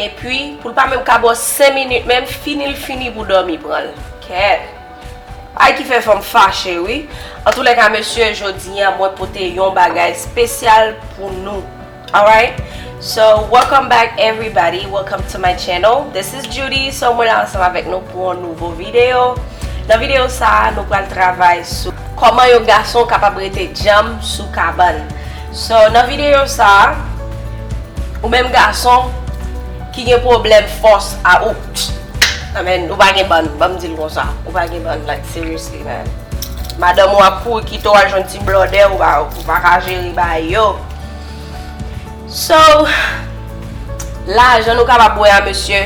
Epi poul pa menm ka bo 5 minit menm finil fini pou domi pranl kèèt bagay ki fè fanm fache wi antoulèka mesye jodia mwen pote yon bagay spesyal pou nou alright so welcome back everybody welcome to my channel this is Judy so mwen la ansanm avèk nou pou yon nouvo video nan video sa nou pral travay sou koman yon gason kapab rete djanm sou kabann. So nan videyo sa ou menm gason ki gen pwoblèm fòs a ou nan men ou pa gen bann banm dil konsa ou pa gen bann like seriously man madanm ou ap kouri kite w al jwenn ti blòdè ou pa ka jere bagay yo so lajan nou kapab wè a mesye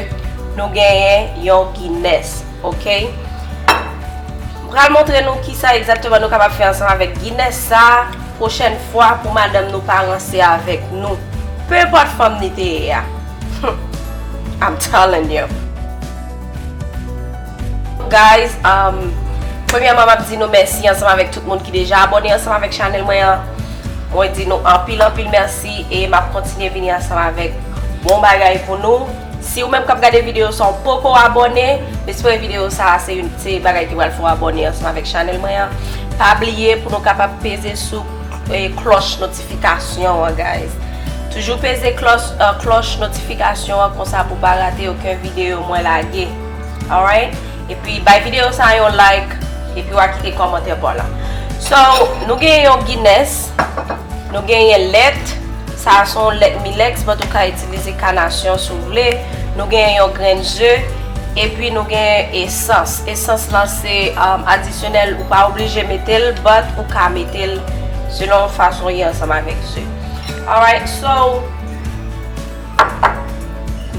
nou genyen yon gines ok m pral montre nou kisa egzakteman nou kapab fè ansanm avèk gines sa. Prochèn fwa pou madanm nou pa ranse avèk nou. Peu importe fanm li te ye a. Humm I'm telling you. Guys umm Premyèman map di nou mèsi ansanm avèk tout moun ki deja abòne ansanm avèk chanèl mwen an. Mwen di nou anpil anpil mèsi e map kontinye vini ansanm avèk bon bagay pou nou. Si ou menm kap gade video sa ou poko abòne, m espere video sa a se youn se bagay ki pral fè w abòne ansanm avèk chanèl mwen an. Pa bliye pou nou kapab peze sou klòch notifikasyon an guys. Toujou peze klòch notifikasyon an konsa pou pa rate oken video mwen lage. Alright! Epi bay video sa yon like epi wa kite kòmantè paw la. So nou gen yon Guinness, nou genyen lèt, sa a son lèt milex but ou ka itilize kanasyon si w vle, nou genyen yon grenn ze, epi nou genyen esans. Esans lan se adisyonèl ou pa oblije mete l but ou ka mete l selon fason li ansanm avèk ze. Alright so.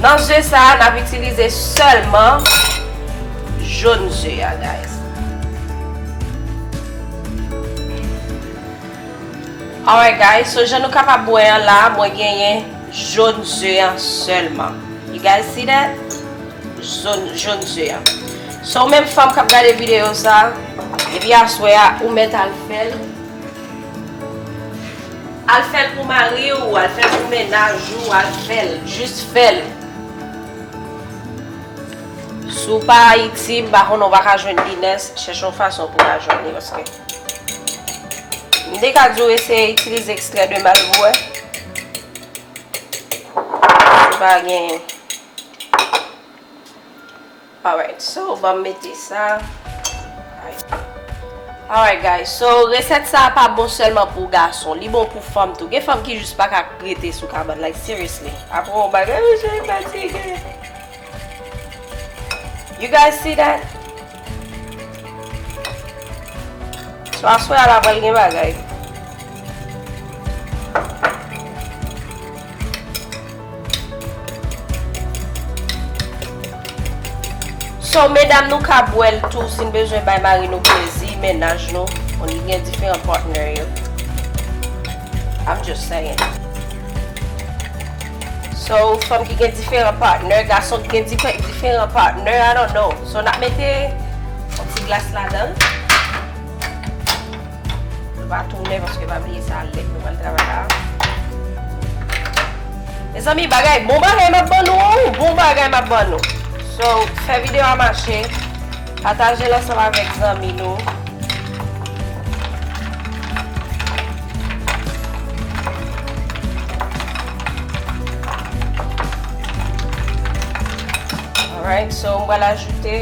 Nan ze sa a nap itilize sèlman Jon ze a guys. Alright guys so jan nou kapab wè an la mwen genyen Jon ze an sèlman. You guys see that? Jon ze an. So ou menm fanm kap gade videyo sa depi aswè a ou mèt al fèl. Al fel pou mari ou al fel pou menaj ou al fel jus fel. Si w pa Ayiti m pa konnen w pa ka jwenn Guinness, chèche yon fason pou w ka jwenn li paske M te ka di w eseye itilize ekstrè de mal pou w wè si w pa gen. Alright so banm mete sa. Alright guys so resèt sa pa bon sèlman pou gason li bon pou fanm tou gen fanm ki jis pa ka rete sou kabann like seriously apre yon bagay oh je fatigue you guys see that so aswè a la pral gen bagay. So medam nou ka bwèl tou sin bezwen bay mari nou plezi mennaj nou ou li gen diferan partner yo I'm just saying So fanm ki gen diferan partner gason ki gen diferan partner I don't know so nap mete yon ti glas ladanl. Nou pa tounen paske pa bliye sa lèt nou pral travay la. Mezanmi bagay bon bagay map ban nou an wi, bon bagay map ban nou. So, fè video a mache, pataje l ansanm avèk zanmi nou. Alright, so m pral ajoute.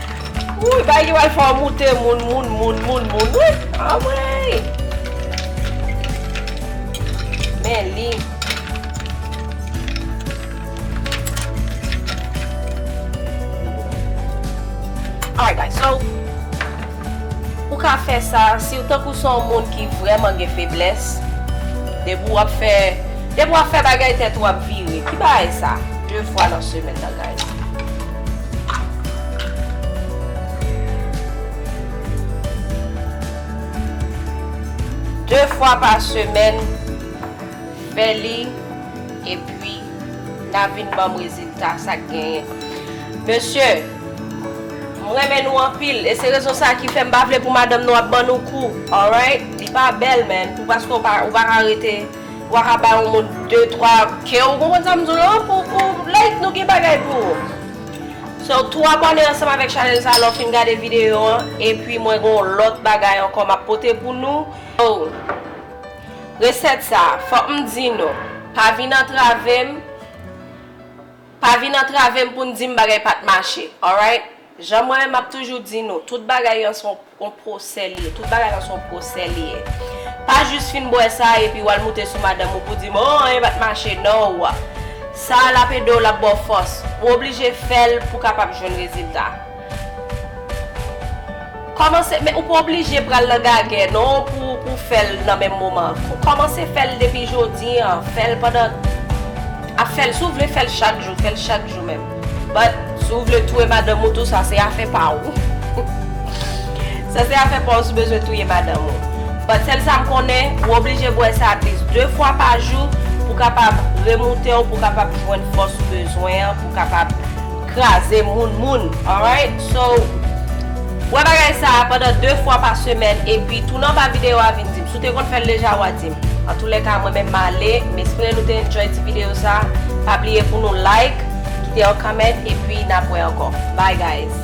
Wouyy bagay ki pral fè w moute moun moun moun moun moun wi anmweyy men li Alright guys so ou ka fè sa si w tankou se yon moun ki vrèman gen feblès depi w ap fè depi w ap fè bagay tèt ou ap vire ki bagay sa 2 fwa nan semèn nan guys. De fwa pa semèn fè li epi na vin banm rezilta sak genyen mesye m renmen nou anpil e se rezon sa ki fèm pa vle pou madanm nou ap ban nou kou alright li pa bèl man pou paske ou pa ka rete Wa ka bay yon moun de twa ke ou konprann sa m di w lan pou pou like nou gen bagay pou ou so tou abòne ansanm avèk chanèl sa lè w fin gade videyo an epi mwen gen yon lòt bagay ankò m ap pote pou nou oh resèt sa fòk m di nou pa vin antrave m pa vin antrave m pou n di m bagay pa t mache alright. Jan mwen menm map toujou di nou, tout bagay an son on pwosè li ye, tout bagay an son pwosè li ye. Pa jis fin bwè sa epi wal moute sou madanm ou pou di m oh anyen pat mache non ou a. Sa a lap ede w lap ba w fòs. Ou oblije fè l pou kapab jwenn rezilta. Kòmanse men ou pa oblije pral nan gagè non pou ou fèl nan menm moman kòmanse fèl depi jodi an fèl pandan ap fèl si ou vle fèl chak jou fèl chak jou menm but si ou vle touye madanm ou tou sa se afè pa ou sa se afè pa ou si ou bezwen touye madanm ou but sèl sa m konnen ou oblije bwè sa atlis 2 fwa pa jou pou kapab remoute w pou kapab jwenn fòs ou bezwen an pou kapab. kraze moun moun alright so wè bagay sa pandan 2 fwa pa semèn epi tounen anba video a vin dim si w te konn fèl deja wa dim antoulèka mwen menm male m espere nou te enjoy ti video sa pa bliye pou nou like kite yon comment epi nap wè ankò bye guys.